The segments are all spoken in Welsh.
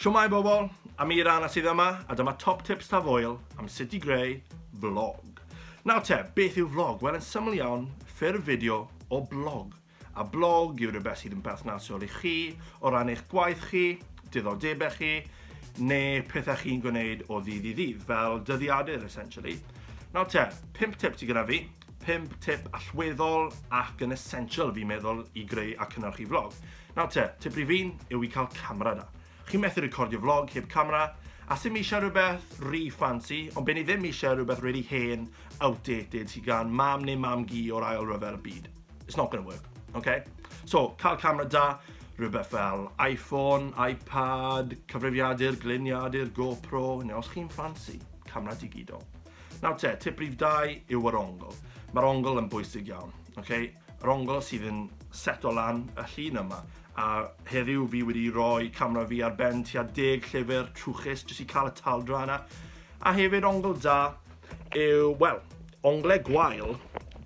Shwmae bobl, Amir Anna sydd yma a dyma top tips taf oil am sut i greu vlog. Nawr te, beth yw vlog? Wel yn syml iawn, ffurf fideo o blog. A blog yw rhywbeth sydd yn perthnasol i chi o ran eich gwaith chi, diddordebau chi, neu pethau chi'n gwneud o ddydd i ddydd, fel dyddiadur essentially. Nawr te, pimp tips i gyda fi. 5 tip allweddol ac yn essential fi'n meddwl i greu a cynnyrchu vlog. Nawr te, tip rhif un yw i cael camera da. Chi'n methu recordio vlog heb camera, a sy'n eisiau rhywbeth rhi fancy, ond be'n i ddim eisiau rhywbeth really hen, outdated, sy'n gan mam neu mam gi o'r ail rhyfel byd. It's not gonna work, okay? So, cael camera da, rhywbeth fel iPhone, iPad, cyfrifiadur, gliniadur, GoPro, neu os chi'n fancy, camera digidol. Nawr te, tip rhif 2 yw yr ongl. Mae'r ongl yn bwysig iawn. Okay? Yr ongl sydd yn seto lan y llun yma. A heddiw fi wedi rhoi camera fi ar ben tua deg llyfr trwchus jyst i cael y taldra yna. A hefyd ongl da yw, wel, ongle gwael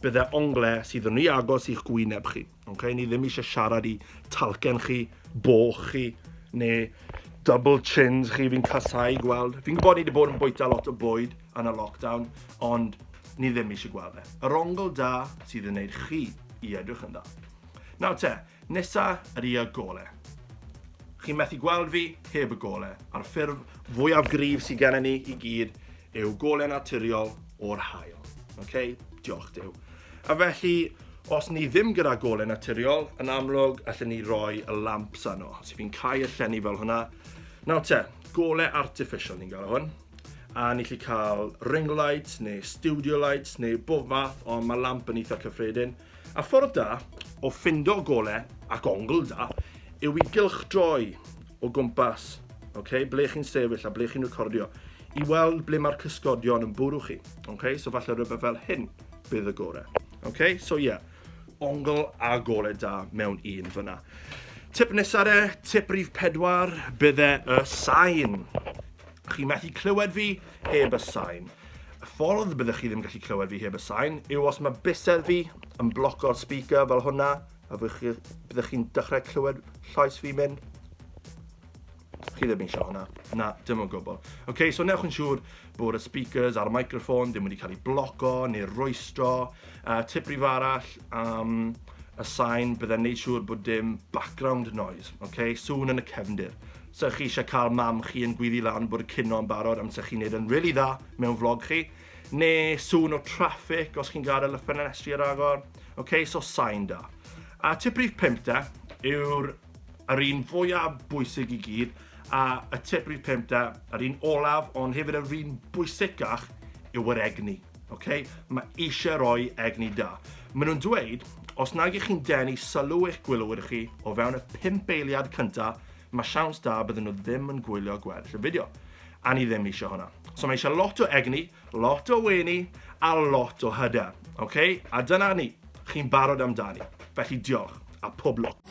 bydde ongle sydd yn rhy agos i'ch gwyneb chi. Okay, ni ddim eisiau siarad i talcen chi, bo chi, neu double chins chi, fi'n casau gweld. Fi'n gwybod ni wedi bod yn bwyta lot o bwyd yn y lockdown, ond ni ddim eisiau gweld e. Yr ongl da sydd yn neud chi i edrych yn dda. Nawr te, nesa yr i y gole. Chi'n methu gweld fi heb y gole, a'r ffurf fwyaf gryf sydd gennym ni i gyd yw gole naturiol o'r haul. Ok, diolch Dyw. A felly, os ni ddim gyda gole naturiol, yn amlwg, allen ni roi y lamps arno. Os fi'n cael y llenni fel hwnna, nawr te, gole artificial ni'n gael hwn. A ni chi cael ring lights, neu studio lights, neu bob fath, ond mae lamp yn eitha cyffredin. A ffordd da o ffindo gole ac ongl da yw i gylchdroi o gwmpas, okay, ble chi'n sefyll a ble chi'n recordio, i weld ble mae'r cysgodion yn bwrw chi. Okay? So falle rhywbeth fel hyn bydd y gore. Okay? So ie, yeah, ongl a gole da mewn un fyna. Tip nesaf e, tip rif pedwar, bydde y sain. Chi methu clywed fi heb y sain. Y ffordd y byddwch chi ddim gallu clywed fi heb y sain yw os mae bysedd fi yn bloco'r speaker fel hwnna, a byddwch chi'n dechrau clywed llais fi mynd. Chi ddim eisiau hwnna. Na, dim o gwbl. Oce, okay, so newch yn siŵr bod y speakers a'r microphone ddim wedi cael ei bloco neu roestro. Uh, tip rif arall am um, y sain, byddai'n neud siŵr bod dim background noise, okay? sŵn yn y cefndir. 'Sa chi isha cael mam chi yn gwyddu lan bod y cino yn barod am 'sa chi'n neud yn rili dda mewn vlog chi, ne sŵn o traffic os chi'n gadel y ffenestri ar agor, ok so sain da. A tip rhif pump de yw'r yr un fwya bwysig i gyd, a y tip rhif pump de, yr un olaf ond hefyd yr un bwysicach yw yr egni, ok? Ma' isha roi egni da. Ma' nhw'n dweud os nag y'ch chi'n denu sylw eich gwylwyr chi o fewn y pump eiliad cynta, Mae siawns da bydden nhw ddim yn gwylio gweddill y fideo. A ni ddim eisiau hwnna. So mae eisiau lot o egni, lot o wenu, a lot o hyder. OK? A dyna ni. Chi'n barod amdani. Felly diolch, a pob lwc.